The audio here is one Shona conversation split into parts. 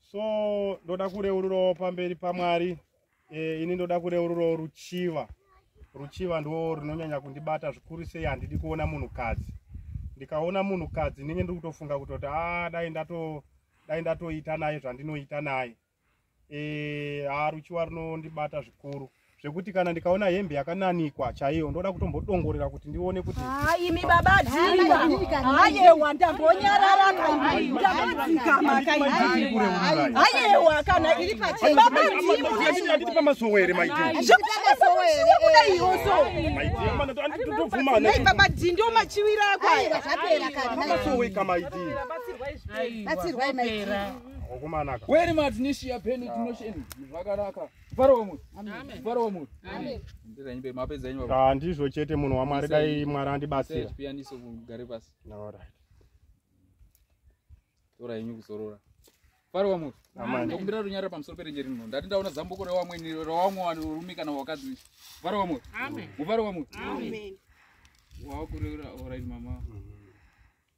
so ndoda kureururawo pamberi pamwari e, ini ndoda kureururawo ruchiva ruchiva ndo runonyanya kundibata zvikuru sei handidi kuona munhukadzi ndikaona munhukadzi ndinenge ndiri kutofunga kutoti a ah, dai ndato dai ndatoita naye zvandinoita naye e, eh, a ah, ruchiva runondibata zvikuru zvekuti kana ndikaona hembe yakananikwa chaiyo ndoda kutombodongorera kuti ndione kuti imi baba dhiayewa ndambonyarara ayewa kana iri pachebabadhiaanditi pamasowere maidibaba dhi ndio machiwira akoasowekamaidibatsirwai maidi weri matnishiya peni tinosheni zvakanaka Mufaro wemwoyo. Mufaro wemwoyo. Ndira nyimbe mapedza nyimbe. Ah ndizvo chete munhu waMwari dai Mwari andibatsira. Piyaniso kugare pasi. All right. Tora yenyu kuzorora. Mufaro wemwoyo. Amen. Ndokumbira runyararo pamusoro perenje rino. Ndati ndaona zambuko rewamweni rewamwe rume kana wakadzi. Mufaro wemwoyo. Amen. Mufaro wemwoyo. Amen. Wakurera all right mama. Mm -hmm.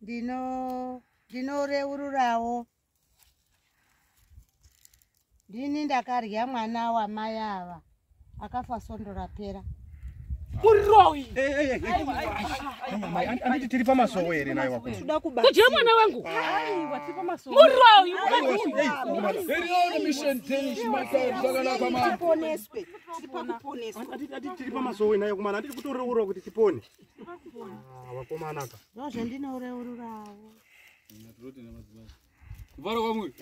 ndino ndinoreururawo ndini ndakarya mwana wamai ava akafa sondo rapera muroi anditi tiri pamasowo here naye wako kuda kuba kudya mwana wangu aiwa tiri pamasowo muroi tiri pamasowo naye kumana anditi kutoreurwa kuti tipone Ah, vakomana ka ndozvandinoreururawo kuvara kwamuri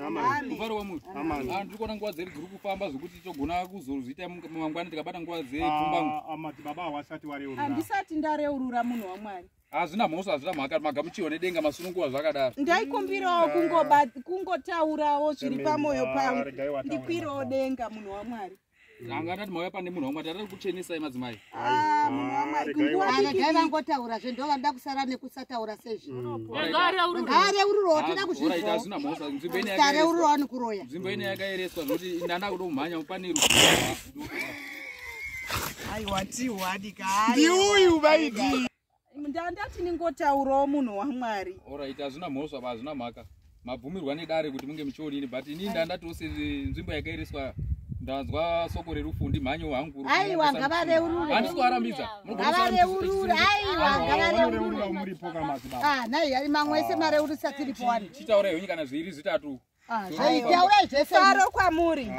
kuvara kwamuri ah, ndiri kuona nguva dzeri dziri kufamba zvekuti togona kuzozviita mangwana tikabata nguva dzepfumbamadzibaba ah, hawasati wareurura handisati ndareurura munhu wamwari hazvina mhosva hazvina mhaka magamuchiwa nedenga masununguva zvakadaro ndaikumbirawo kungotaurawo zviri pamwoyo pangu ndikwirawo denga munhu wamwari Tanga ndati mauya pane munhu wamwari tari kuchenesai madzimai. Ah, munhu wamwari kunguwa ah, diki. Dai vangotaura zve ndo vanoda kusara nekusataura sezvi. Mm. Ngare ururo tira kuzvinzwa. Ora ita zvina mhosa nzvimbo ine yakaereswa. Ngare ururo ani kuroya. Nzvimbo ine yakaereswa zvoti ndanda kudo kumhanya kupaniru. Ai wati wadi kai. Ndi uyu vaidi. ndandati ningotaurawo munhu wamwari orit hazvina mhosva pa hazvina mhaka mabvumirwa nedare kuti munge muchionini but inii ndandati ose nzvimbo yakairiswa ndanzwa soko rerufu ndimhanyo hangu aiwa ngavareururandisikuarambidza ngavareurure aiwa ngavareururnai ah, mamwe ese mareurisa tiripo wani chitaura henyu kana zviiri zvitatu ah, zvaitaura zvese mfaro kwamuri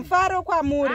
mfaro kwamuri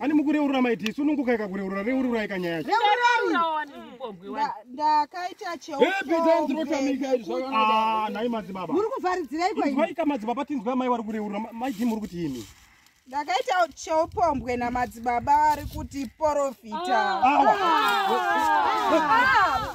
ani mukureurura maiti isu nunguka ikakureurura reurura ikanyaya ndakaita cheoanai madzibaba muri kuvharidzireikoika madzibaba tinzwa mai wari kureurura maiti muri kuti ini ndakaita cheupombwe namadzibaba ari kuti porofita ah. Ah. Ah.